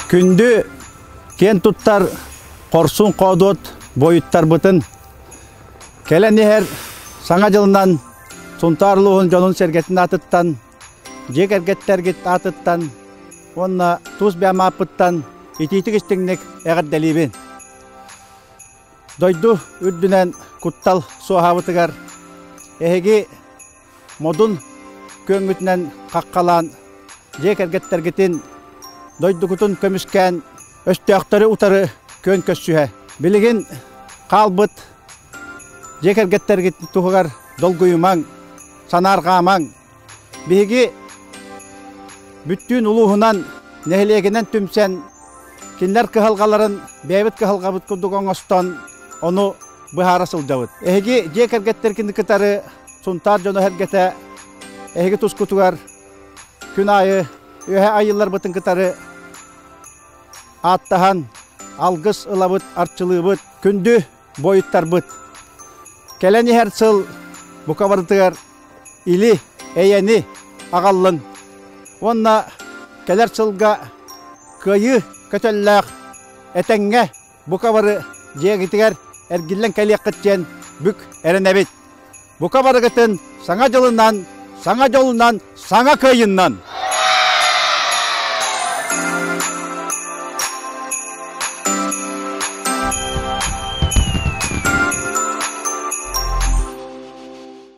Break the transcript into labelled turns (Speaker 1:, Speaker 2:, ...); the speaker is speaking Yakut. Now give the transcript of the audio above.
Speaker 1: Күндү киэн туттар Хорсун Хоодуот буойуттарбытын кэлэн иһэр Саҥа дьылынан Сунтаар улууһун дьонун-сэргэтин аатыттан, дьиэ кэргэттэргит аатыттан уонна тус бэйэм ааппыттан итиитик-истиҥник эҕэрдэлиибин! Дойду үрдүнэн куттал суоһаабытыгар эһиги модун күөҥҥүтүнэн хаххалаан дьиэ кэргэттэргитин дойдугутун көмүскээн өстөөхтөрү утары күөн көссүһэ. Билигин хаалбыт дьиэ кэргэттэргит туһугар долгуйумаҥ, санаарҕаамаҥ. Биһиги бүттүүн улууһунан, нэһилиэгинэн түмсэн, кинилэр кыһалҕаларын бэйэбит кыһалҕабыт курдук оҥостон, ону быһаара сылдьабыт. Эһиги дьиэ кэргэттэргин кытары Сунтаар дьоно эһэргэтэ эһиги тускутугар күн аайы Үөһээ Айыыларбытын кытары ааттаһан, алгыс ылабыт, арчылыыбыт. Күндү буойуттарбыт. Кэлэн иһэр сыл бука барытыгар или, эйэни аҕаллын уонна кэлэр сылга кыайыы көтөллөөх этэҥҥэ бука бары дьиэҕитигэр эргиллэн кэлиэххит диэн бүк эрэнэбит. Бука барыгытын саҥа дьылынан, саҥа дьолунан, саҥа кыайыннан!